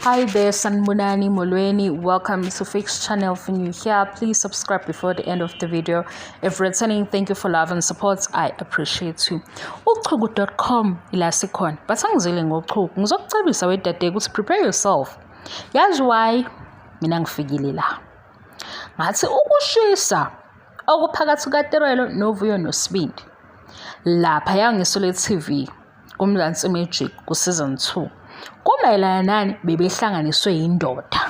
Hi there, Sanmunani Molweni. Welcome to Fix Channel for new here. Please subscribe before the end of the video. If returning, thank you for love and support. I appreciate you. Uchugu.com ila sikhona. Basangizile ngochugu. Ngizokucebisa wedade ukuthi prepare yourself. Yazi why mina ngifikile la. Ngathi ukushisa okuphakathi kaTerelo noVuyo noSibindi. Lapha yangisole TV. kuMzansi Magic kuSeason 2 kumayelana nani bebehlanganiswe yindoda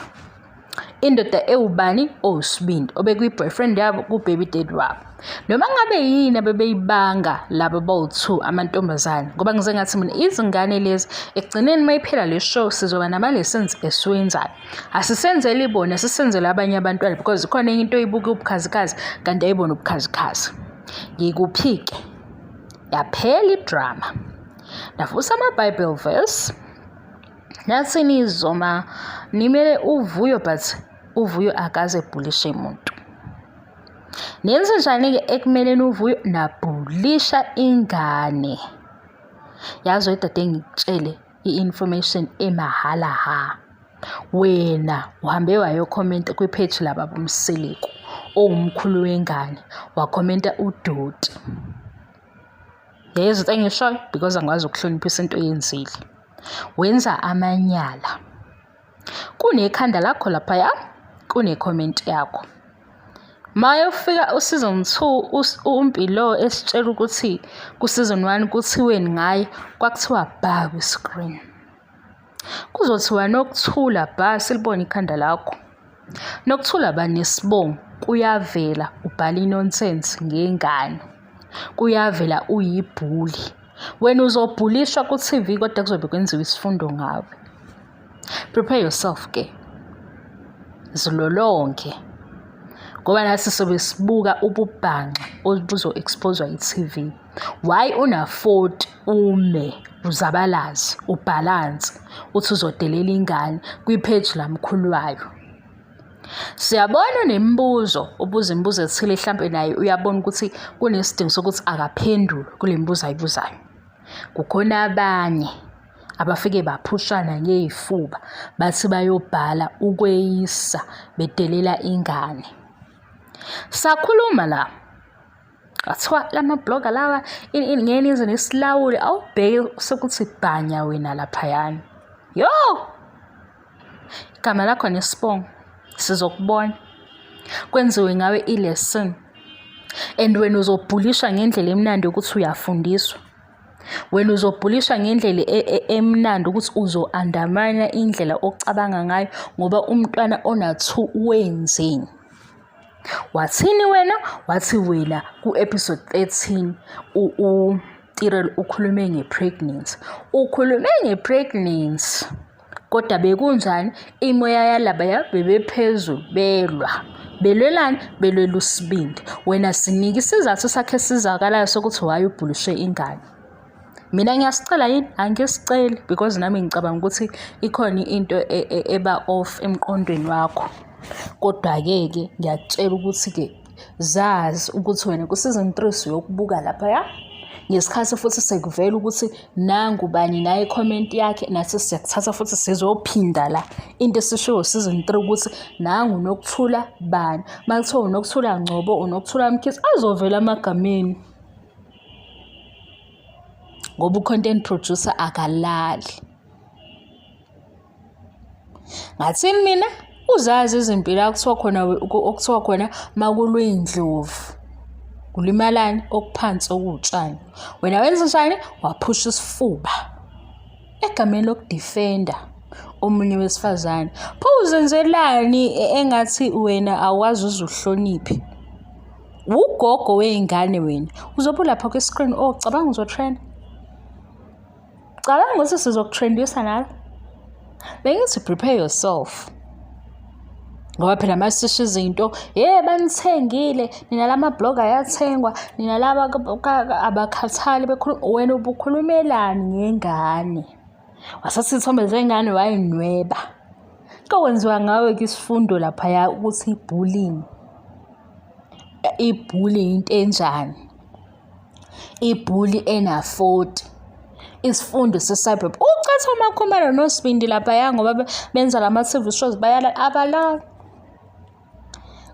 indoda ewubani owusibindi obekuyi-boyfriend yabo ku-baby dad wabo noma ngabe yini abebeyibanga laba bawu-two amantombazane ngoba ngize ngathi mina izingane lezi ekugcineni uma iphela le show sizoba nama-lessons esiwenzayo asisenzeli bona sisenzele abanye abantwana because khona enye into oyibuke ubukhazikhazi kanti ayibona ubukhazikhazi ngikuphi-ke yaphela idrama ndavusa ama-bible verse nathi nizoma nimele uvuyo but uvuyo akaze ebhulishe muntu nenze njani-ke ekumeleni uvuyo nabhulisha ingane yazi wedade ngikutshele i-information emahhala ha wena uhambe wayokhomenta kwipheji lababa umseleku owumkhulu wengane wakhomenta udoti yayizitha engishoyo because angikwazi ukuhloniphisa into oyenzile wenza amanyala kunekhanda lakho laphaya kune-comment yakho mayofika usizon two umpilo esitshela ukuthi kusizon one kuthiweni ngaye kwakuthiwa bha kwi-screen kuzothiwa nokuthula bha silibone ikhanda lakho Nokuthula banesibongo kuyavela ubhala inonsense ngengane. Kuyavela uyibhuli. Wena uzobhulishwa ku-TV kodwa kuzobe kwenziwa isifundo ngawe. Prepare yourself ke. Zilolonge. Ngoba nathi sobe sibuka ububhanxa obuzo-exposwa yi-TV. Why unafoti ume uzabalaze ubhalanse uthi uzodelela ingane kwipheji lamkhulu wayo. Siyabona unemibuzo ubuza imibuzo ethile mhlampe naye uyabona ukuthi kunesidingo sokuthi akaphendule kule mibuzo ayibuzayo. Kukhona abanye abafike baphushana ngey'fuba bathi bayobhala ukweyisa bedelela ingane. Sakhuluma la Kuthiwa lamabhloga lawa ini ini ngeke nize nisilawule awubheke sekuthi bhanya wena laphayana. Yo! Igama lakho nesibongo sizokubona. Kwenziwe ngawe i-lesson and wena uzobhulishwa ngendlela emnandi ukuthi uyafundiswa. Wena uzobhulishwa ngendlela e, e, emnandi ukuthi uzo-andamanya indlela ocabanga ngayo ngoba umntwana ona-two wenzeni. wathini wena wathi wena ku-episode 13 utirel ukhulume nge-pregnancy ukhulume nge-pregnancy kodwa bekunjani imoya yalabaya bebephezulu belwa belwelani belwela usibindi wena sinike isizathu sakhe esizakalayo sokuthi why ubhuliswe ingane mina ngiyasicela yini angisiceli because nami ngicabanga ukuthi ikhona into e, e, eba off emqondweni wakho kodwa-ke ke ngiyakutshela ukuthi-ke zazi ukuthi wena kusizon three siyokubuka laphaya ngesikhathi futhi sekuvela ukuthi nangu bani naye comment yakhe nathi siyakuthatha futhi sizophinda la into esishiwo season 3 ukuthi nangu nokuthula bani makuthiwa unokuthula ngcobo unokuthula mkhithi azovela amagameni ngoba u-content producer akalali ngathini mina uzazi izimpilo akuthiwa khona okuthiwa khona makulwe indlovu kulimalani okuphansi okuwutshani wena wenza njani waphusha isifuba egameni lokudifenda omunye wesifazane pho uzenzelani e-, engathi wena awazi uzuhloniphe wugogo wey'ngane wena uzobe ulapha kwi-screen o oh, cabanga uzotrenda cabanga ukuthi sizokutrendisa nalo bengithi prepare yourself ngoba phela uma sisho izinto ye banithengile nina la mablog ayathengwa nina laba abakhathali bekhuluma wena ubukhulumelani ngengane wasathatha isithombe sengane wayinweba kokwenziwa ngawe ke isifundo laphaya ukuthi i-bullying ibhuli into enjani ibhuli enafoti isifundo se-cyber ucatha umakhumalo nosibindi laphaya ngoba benza lama-tv shows bayala abalala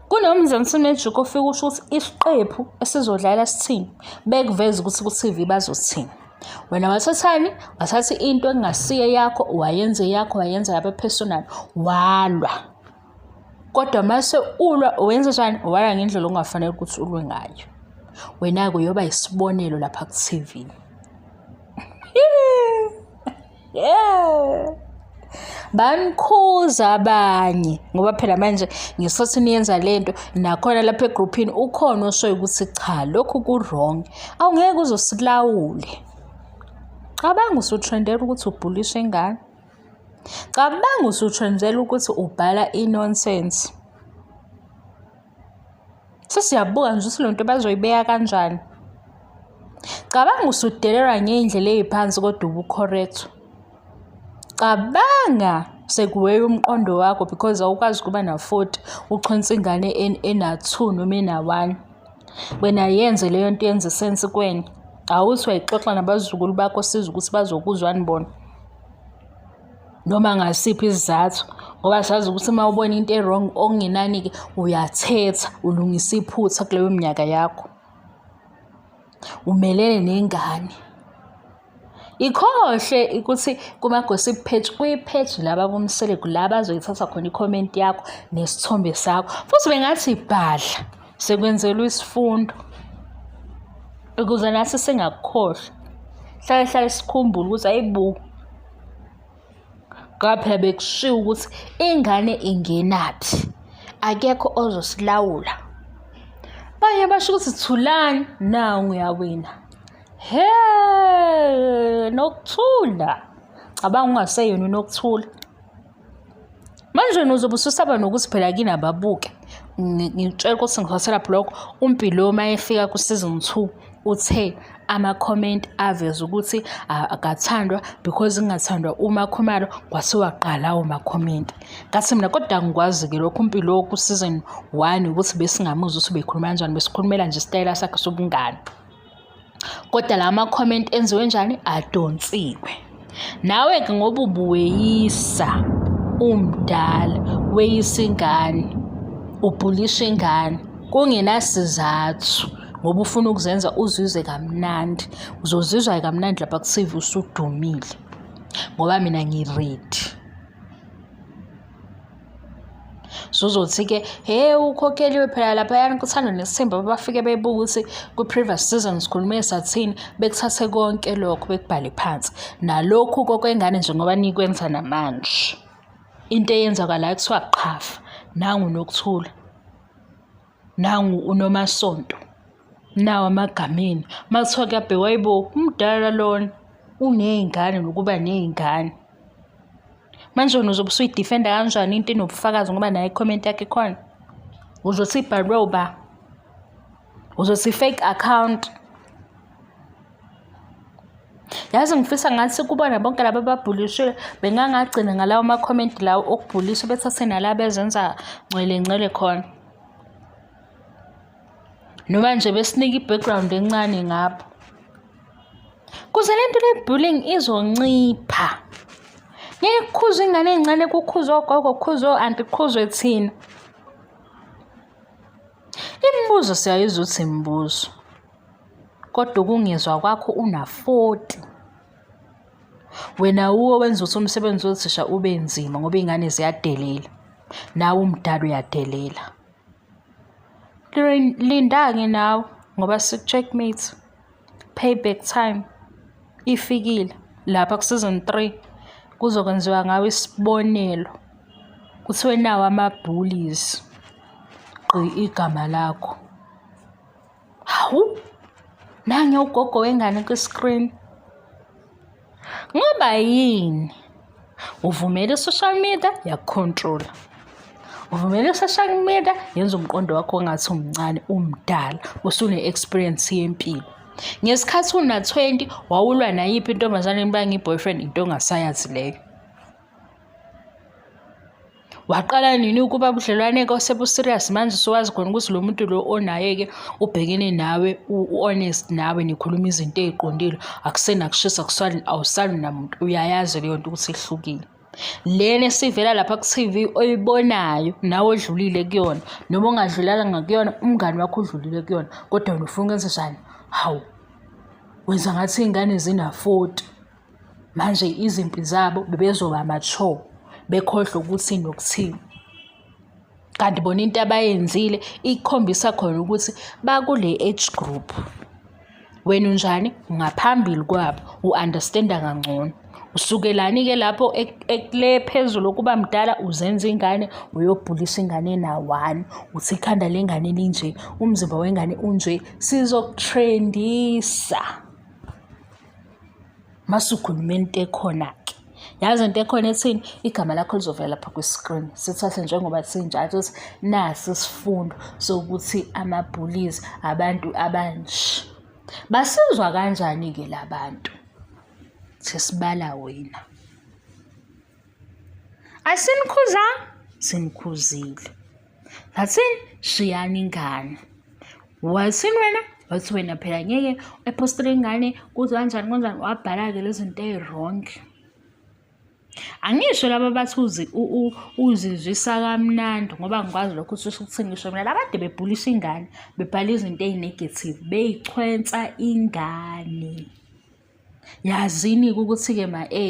Kunomzansi Magic ofika usho ukuthi isiqephu esizodlala sithini bekuveza ukuthi ku-TV bazothini. Wena wathathani? Wathatha into engasiye yakho wayenze yakho wayenza yabe personal walwa. Kodwa mase ulwa wenza njani? Walwa ngendlela ongafanele ukuthi ulwe ngayo. Wena-ke uyoba yisibonelo lapha ku-TV. yeah banikhuza abanye ngoba phela manje ngesikhathi niyenza le nto nakhona lapha egruphini ukhona oshoyo ukuthi cha lokhu ku-wrong awungeke uzosilawule cabanga usutrendela ukuthi ubhulishe ingane cabanga usutrendela ukuthi ubhala i-nonsense sesiyabuka nje ukuthi lento bazoyibeka kanjani cabanga usudelelwa ngey'ndlela ey'phansi kodwa ubu-correct cabanga sekuweya umqondo wakho because awukwazi ukuba na-forty uchonsa ingane ena-two noma ena-one wena yenze leyo nto yenza isensi kwena awuthi wayixoxa nabazukulu bakho siza ukuthi bazokuzwani bona noma ngasiphi isizathu ngoba sazi ukuthi uma ubona into e-wrong okungenani-ke uyathetha ulungisa iphutha kuleyo minyaka yakho umelele nengane ikhohle ukuthi kuma-gossip page kuyipheji laba bomseleku la bazoyithatha khona ikhomenti yakho nesithombe sakho futhi bengathi bhadla Sekwenzelwa isifundo ukuze nathi singakukhohlwa. Hlale hlale sikhumbule ukuthi ayibo ngoba phela bekushiwo ukuthi ingane ingenaphi, akekho ozosilawula. Abanye basho ukuthi thulani, nawu uyawina. Hhe! Nokuthula. Cabanga ungaseyona uNokuthula. manje wena uzobe ususaba nokuthi phela kini ababuke ngitshela ukuthi ngizothola blog umpilo uma efika ku-season two uthe ama-comment aveza ukuthi akathandwa because kungathandwa umakhumalo kwase waqala umakhomenti kathi mina kodwa ngikwazi-ke lokhu mpilo ku-season one ukuthi besingamuzwa ukuthi bekhuluma kanjani besikhulumela nje isitayela sakhe sobungane kodwa la ma-comment enziwe njani adonsiwe nawe-ke ngoba ubuweyisa umdala weyisa ingane ubhulisha ingane kungenasizathu ngoba ufuna ukuzenza uzizwe kamnandi uzozizwa kamnandi lapha kusive usudumile ngoba mina ngiredi Suzothi-ke he ukhokheliwe phela laphayana kuthandwa nesithemba babafike bebuke ukuthi kwi-previous season sikhulume sathini bekuthathe konke lokho bekubhale phansi nalokhu kokwengane nje ngoba nikwenza namanje into eyenzakalayo kuthiwa qhafa nangu nokuthula nangu unomasonto nawo amagameni uma kuthiwa kuyabhekwa yibo umdala lona uney'ngane nokuba ney'ngane manje wena uzobe usuyidifenda kanjani into enobufakazi ngoba naye comment yakhe khona uzothi ibhalwe uba uzothi i-fake account yazi ngifisa ngathi kubona bonke laba ababhulishwe bengangagcina ngalawo makhomenti lawo okubhuliswa bethathe nala bezenza ngcwele ngcwele khona noma nje besinike i-background encane ngapho kuze le nto le-bullying izoncipha ngeke kukhuzwe ingane ey'ncane kukhuzwe ogogo kukhuzwe o-anti kukhuzwe thina imibuzo siyayiza ukuthi imibuzo kodwa ukungezwa kwakho una-40 wena wuwe wenza ukuthi umsebenzi wothisha ube nzima ngoba iy'ngane ziyadelela nawe umdala uyadelela linda-ke nawe ngoba siku-checkmate payback time ifikile lapha ku-season three kuzokwenziwa ngawe isibonelo kuthiwe nawo ama-bullies gqi igama lakho hawu nange ugogo wengane kwi-screen ngoba yini uvumele i-social media yakukhontrola uvumele i-social media yenza umqondo wakho ongathi umncane umdala usune-experience yempilo ngesikhathi una-20 wawulwa nayiphi intombazane niba ngiyi-boyfriend into ongasayazi leyo waqala nini ukuba budlelwane ke osebuserious manje usuwazi khona ukuthi lo muntu lo onaye-ke ubhekene nawe u-honest nawe nikhuluma izinto ey'qondile akusenakushisa kusali awusali namuntu uyayazi leyo nto ukuthi ihlukile lena esivela lapha ku-tv oyibonayo nawe odlulile kuyona noma ongadlulanga kuyona umngani wakho udlulile kuyona kodwa wena ufuna ukwenze njani hawu wenza ngathi iy'ngane zina-forty manje izimpi zabo bebezoba mature bekhohlwe ukuthi nokuthini kanti bona into abayenzile ikhombisa khona ukuthi bakule age group wena unjani ngaphambili kwabo u-understanda kangcono usukelani-ke lapho ekule phezulu okuba mdala uzenza ingane uyobhulisa ingane nawani uthi ikhanda lengane linje umzimba wengane unje sizokutrendisa masukhuluma into ekhona-ke yazi into ekhona ethini igama lakho lizovela lapha kwi-screen sithathe njengoba sinjalo ukuthi nasi isifundo sokuthi ama-bullies abantu abanje basizwa kanjani-ke la bantu sesibala wena Asinikhuzanga, sinikhuzile. Ngathini shiyani ingane. Wathini wena? Wathi wena phela ngeke epostele ingane kuze kanjani kanjani wabhala-ke lezi zinto eyi-wrong. Angisho laba bathi uzi uzizwisa kamnandi ngoba ngikwazi lokho usuke ukuthini ngisho mina laba kade bebhulisa ingane bebhala izinto eyi-negative beyichwensa ingane. Yazini-ke ukuthi-ke ma-A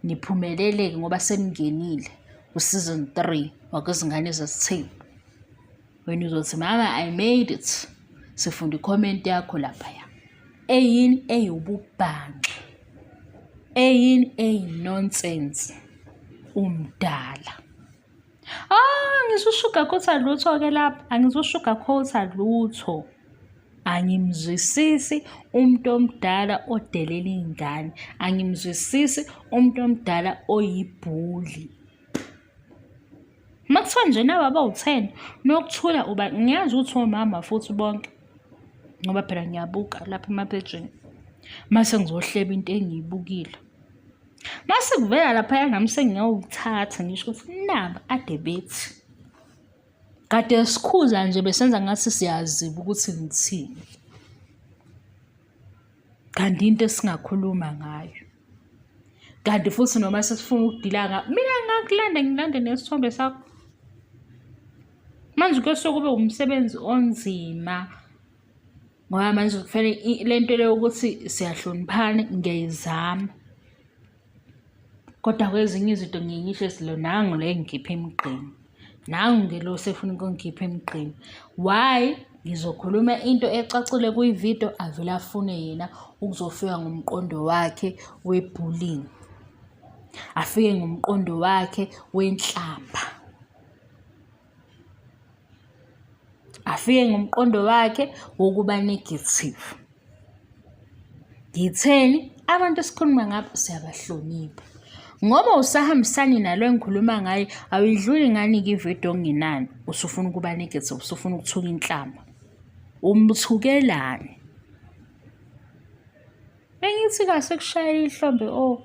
niphumelele-ke ngoba seningenile ku-season three wakwezingane zesithembu. Wena uzothi mama I made it sifunda i-comment yakho laphaya. Eyini eyububhanxa, eyini eyi-nonsense umdala. Ah, ngizushuga khotha lutho ke lapha. Angizushuga khotha lutho. Angimzwisisi umuntu omdala odelela ingane. Angimzwisisi umuntu omdala oyibhuli. Makuthiwa nje nawe abawutheni nokuthula uba ngiyazi ukuthi omama futhi bonke ngoba phela ngiyabuka lapha emapejini mase ngizohleba into engiyibukile. Mase kuvela laphaya nami sengiyawuthatha ngisho ukuthi naba ade bethi kade sikhuza nje besenza ngathi siyaziba ukuthi ngithini kanti into esingakhuluma ngayo kanti futhi noma sesifuna ukudila nga mina ngakulanda ngilande nesithombe sakho manje kuyosuke kube umsebenzi onzima ngoba manje kufanele i- le nto le yokuthi siyahloniphana ngiyayizama kodwa kwezinye izinto ngiye ngisho silo nangu le ngikhipha emgqeni nangu ngilo sefuna ukungikhipha emgqeni why ngizokhuluma into ecacile kwividiyo avele afune yena ukuzofika ngomqondo wakhe webullying afike ngomqondo wakhe wenhlamba afike ngomqondo wakhe wokuba negative ngitheni abantu esikhuluma ngabo siyabahlonipha ngoba usahambisani nalo engikhuluma ngaye awuyidluli ngani kividiyo ongenani usufuna ukuba negative usufuna ukuthuka inhlamba umthukelani Bengithi kahle kushayela ihlombe o oh,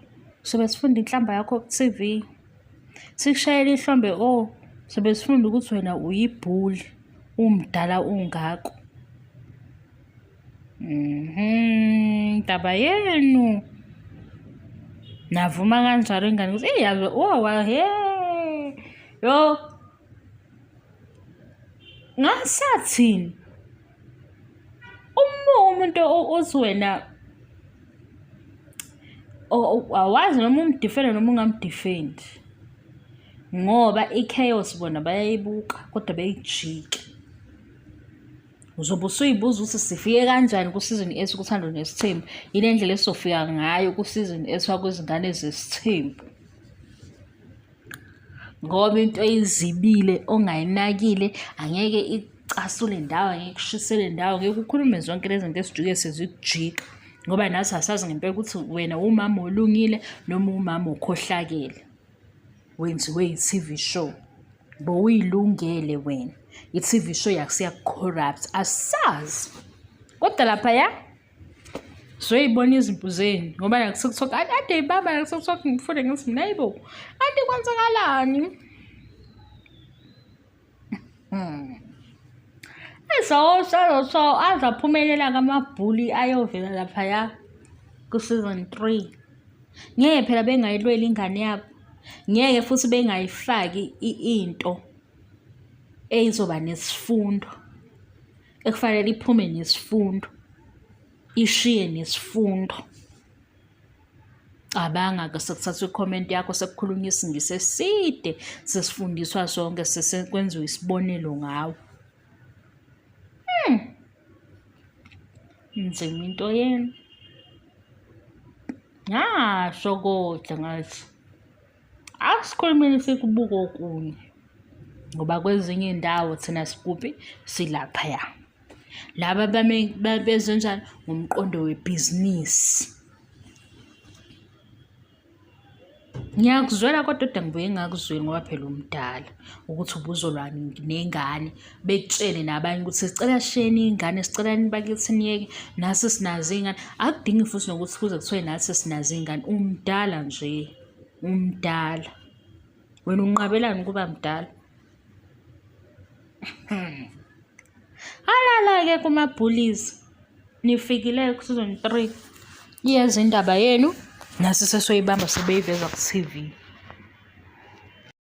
sobe sifunda inhlamba yakho ku-TV. Sikushayela ihlombe o oh, sobe sifunda ukuthi wena uyibhuli umdala ungako. Mhm, ndaba yenu. Navuma kanjalo ingane ukuthi eyi yazi oh, wa he. Yo ngasathini uma umuntu othi wena awazi noma umdifende noma ungamdifendi ngoba i-chaos bona bayayibuka kodwa beyijike uzobe usuyibuza ukuthi sifike kanjani kusizini esi kuthando nesithembu yile ndlela esizofika ngayo kusizini esiwa kwezingane zesithembu ngoba into oyizibile ongayinakile angeke icasule ndawo angeke kushisele ndawo ngeke ukhulume zonke lezi zinto esijuke sezikujiqa ngoba nathi asazi ngempela ukuthi wena wumama olungile noma umama okhohlakele wenziwe yi-TV show bowuyilungele wena i-TV show yakusiyakucorrupt asazi kodwa lapha ya zoyibona izimpu zenu ngoba nakusekuthiwa kade ade ibaba nakusekuthiwa ngifunde ngithi mina yibo kanti kwenzakalani hmm. ezosho azaphumelela kamabhuli ayovela laphaya ku-season three ngeke phela bengayilweli ingane yabo ngeke futhi bengayifaki into eyizoba nesifundo ekufanele iphume nesifundo ishiye nesifundo cabanga ke sekuthathwa i-comment yakho sekukhulunywa isingisi eside sesifundiswa sonke sesekwenziwa isibonelo ngawo hmm. nzima into yenu ngasho kodwa ngathi asikhulumile sikubuka okunye ngoba kwezinye indawo thina sikuphi silaphaya laba bezenjani ngomqondo webhizinisi ngiyakuzwela kodwa kodwa ngibuye ngakuzweli ngoba phela umdala ukuthi ubuzolwani nengane bekutshele nabanye ukuthi sicela sheni ingane sicela nibakithi niyeke nasi sinazo iy'ngane akudingi futhi nokuthi kuze kuthiwe nathi sinazo iy'ngane umdala nje umdala wena unqabelani ukuba mdala halala-ke kuma-bullies nifikile ku-season three iyenza indaba yenu nasi sesoyibamba sebeyiveza ku-tv